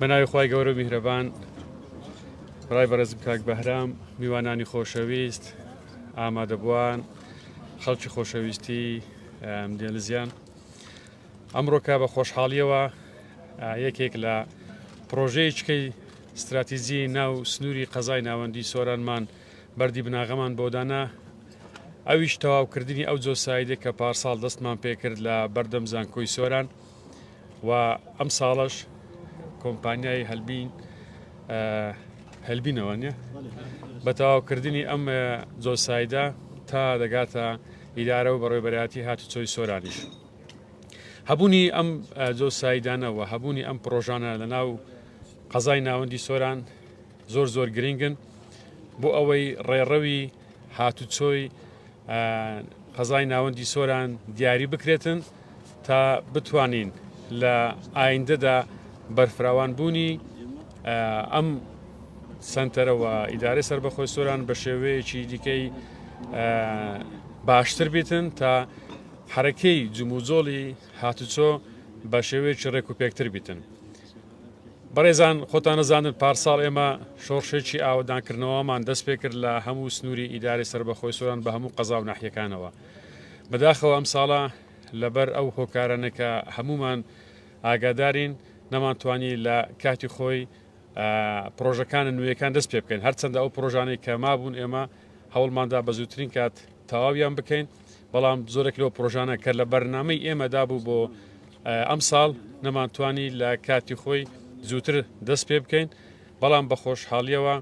بەناوی خی گەورە میهرەبان ڕای بەرز کاک بەهرام میوانانی خۆشەویست ئامادەبووان خەڵکی خۆشەویستی دێلزیان ئەمڕۆکە بە خۆشحاڵیەوە یەکێک لە پڕۆژەیەچکەی ستراتیجی ناو سنووری قەزای ناوەندی سۆرانمان بەردی بناغەمان بۆدانا ئەویش تەواوکردنی ئەو جۆسایدە کە پارساڵ دەستمان پێکرد لە بەردەم زانکۆی سۆران و ئەم ساڵش کۆمپانیای هەلبین هەلبینەوە نیە بە تەواوکردنی ئەم جۆسایدە تا دەگاتە ئیدارە و بەڕێبەرایەتی هاتوچۆی سۆرانیش. هەبوونی ئەم جۆ سایدانە و هەبوونی ئەم پرۆژانە لە ناو قەزای ناوەندی سۆران زۆر زۆر گرنگن بۆ ئەوەی ڕێڕەوی هاتوچۆی قەزای ناوەندی سۆران دیاری بکرێتن تا بتوانین لە ئایندەدا بەرفراوان بوونی ئەم سنتەرەوە ئیدارە سربەخۆی سۆران بە شێوەیەکی دیکەی باشتر بێتن تا حەرەکەی جموجۆڵی هاتوچۆ بە شێوەیەکی ڕێک و پێکتر بیتن. بەڕێزان خۆتان ئەزانن پارساڵ ئێمە شۆڕشێکی ئاوەدانکردنەوەمان دەست پێ کرد لە هەموو سنووری ئیدارەی سەربەخۆی سۆران بە هەموو قەزا و ناحیەکانەوە بەداخەوە ئەم ساڵە لەبەر ئەو هۆکارانە کە هەمومان ئاگادارین نەمانتوانی لە کاتی خۆی پرۆژەکان نوێیەکان دەست پێ بکەین هەرچەندە ئەو پرۆژانەی کە مابوون ئێمە هەوڵماندا بە زووترین کات تەواویان بکەین بەڵام زۆرێک لەو پرۆژانە کە لە بەرنامەی ئێمەدا بوو بۆ ئەمساڵ نەمانتوانی لە کاتی خۆی زووتر دەست پێ بکەین بەڵام بە خۆشحاڵیەوە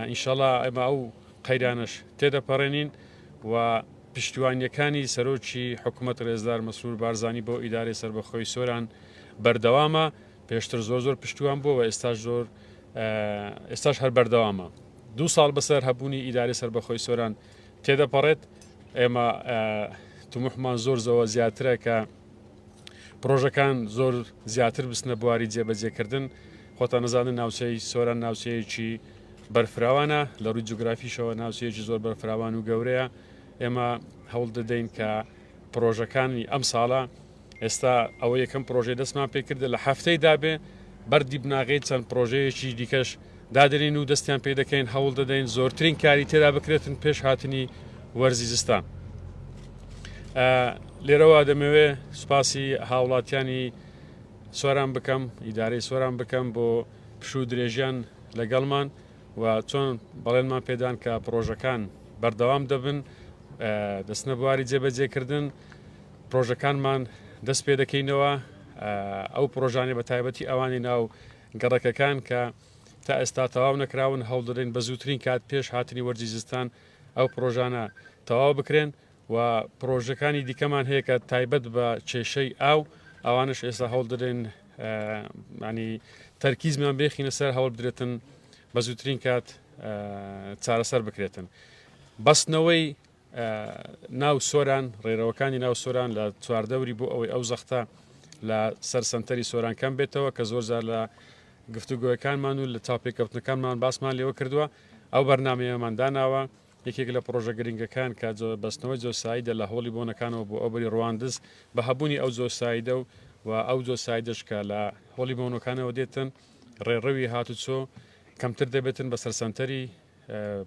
ئینشەڵا ئەمە ئەو قەیرانش تێدەپەڕێنین و پشتیوانیەکانی سەرۆکی حکوومەت ڕێزدار مەسرور بارزانانی بۆ ئیدارەی سربەخۆی سۆران بەردەوامە پێشتر زۆر زۆر پشتیوان بووە ئێستاش زۆر ئێستاش هەر بەردەوامە دوو ساڵ بەسەر هەبوونی ئیدارەی سربەخۆی سۆران تێدەپەڕێت، ئێمە تموحمان زۆر زەوە زیاترە کە پرۆژەکان زۆر زیاتر بستنە بواری جێبەجێکردن خۆتان نەزانن ناوچەی سۆران ناوچەیەکی بەرفراوانە لە ڕووی جوگرافیشەوە ناوچەیەکی زۆر بەرفراوان و گەورەیە ئێمە هەوڵ دەدەین کە پرۆژەکانی ئەم ساڵە ئێستا ئەوە یەکەم پرۆژەی دەستمان پێکردە لە هەفتەی دابێ بەردی بناغەی چەند پرۆژەیەکی دیکەش دادرین و دەستیان پێ دەکەین هەوڵ دەدەین زۆرترین کاری تێدا بکرێتن پێش هاتنی وەرزی زستان لێرەوە دەمەوێ سوپاسی هاوڵاتیانی سۆران بکەم ئیدارەی سۆران بکەم بۆ پشوو درێژیان لەگەڵمان و چۆن بەڵێنمان پێدان کە پرۆژەکان بەردەوام دەبن دەستنە بواری جێبەجێکردن پرۆژەکانمان دەست پێ دەکەینەوە ئەو پرۆژانی بە تایبەتی ئەوانی ناو گەڕەکەکان کە تا ئێستا تەواو نەکراون هەوڵدرین بە زووترین کات پێش هاتنی وەرزی زستان ئەو پرۆژانە تەواو بکرێن و پرۆژەکانی دیکەمان هەیە کە تایبەت بە کێشەی ئاو ئەوانش ئێستا هەوڵدرێن یانی تەرکیزمان بێخینە سەر هەوڵ بدرێتن بە زووترین کات چارەسەر بکرێتن بەستنەوەی ناو سۆران ڕێرەوەکانی ناو سۆران لە چواردەوری بۆ ئەوەی ئەو زەختە لە سەر سنتەری سۆران کەم بێتەوە کە زۆر زار لە گفتوگوۆەکانمان و لە تاپێککەوتنەکانمان باسمان لێوە کردووە ئەو بەرنمەیەمان داناوە یەکێک لە پڕۆژە گرنگەکان کە بەستنەوەی جۆسایدە لە هۆڵی بۆنەکانەوە بۆ ئەو بەری ڕواندز بە هەبوونی ئەو جۆسایدە و و ئەو جۆسایدەش کە لە هۆڵی بۆنەکانەوە دێتن ڕێڕەوی هاتوچۆ کەمتر دەبێتن بەسەر سەنتەری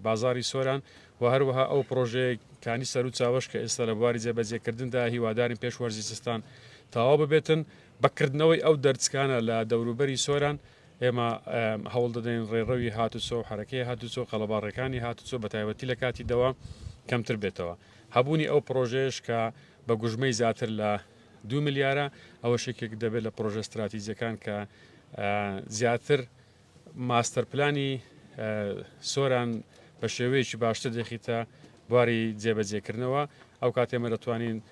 بازاری سۆران و هەروەها ئەو پڕۆژەیە کانی سەر و چاوەش کە ئێستا لە بواری جێبەجێکردندا هیوادارین پێش وەرزی زستان تەواو ببێتن بەکردنەوەی ئەو دەرچکانە لە دەوروبەری سۆران ئێمە هەوڵ دەدەین ڕێڕەوی هاتوچۆ و حەرەکەی هاتوچۆ، قەڵەباڕێکانی هاتوچۆ بەتایبەتی لە کاتی دەوام کەمتر بێتەوە. هەبوونی ئەو پڕۆژەیەش کە بە گوژمەی زیاتر لە دوو ملیارە، ئەوەش یەکێک دەبێت لە پڕۆژە ستراتیجییەکان کە زیاتر ماستەرپلانی سۆران بە شێوەیەکی باشتر دەخیتە بواری جێبەجێکردنەوە، ئەو کاتێ ئێمە دەتوانین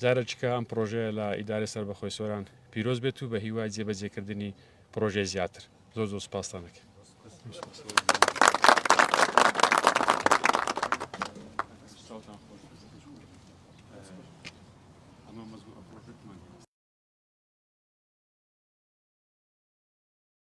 جارە چکە ئەم پڕۆژەیە لە ئیدارەی سەربەخۆی سۆران پیرۆز بێت و بە هیوای جێ بەجێ کردنی پڕۆژەی زیاتر زۆر زۆر سپاستان ئەکەم.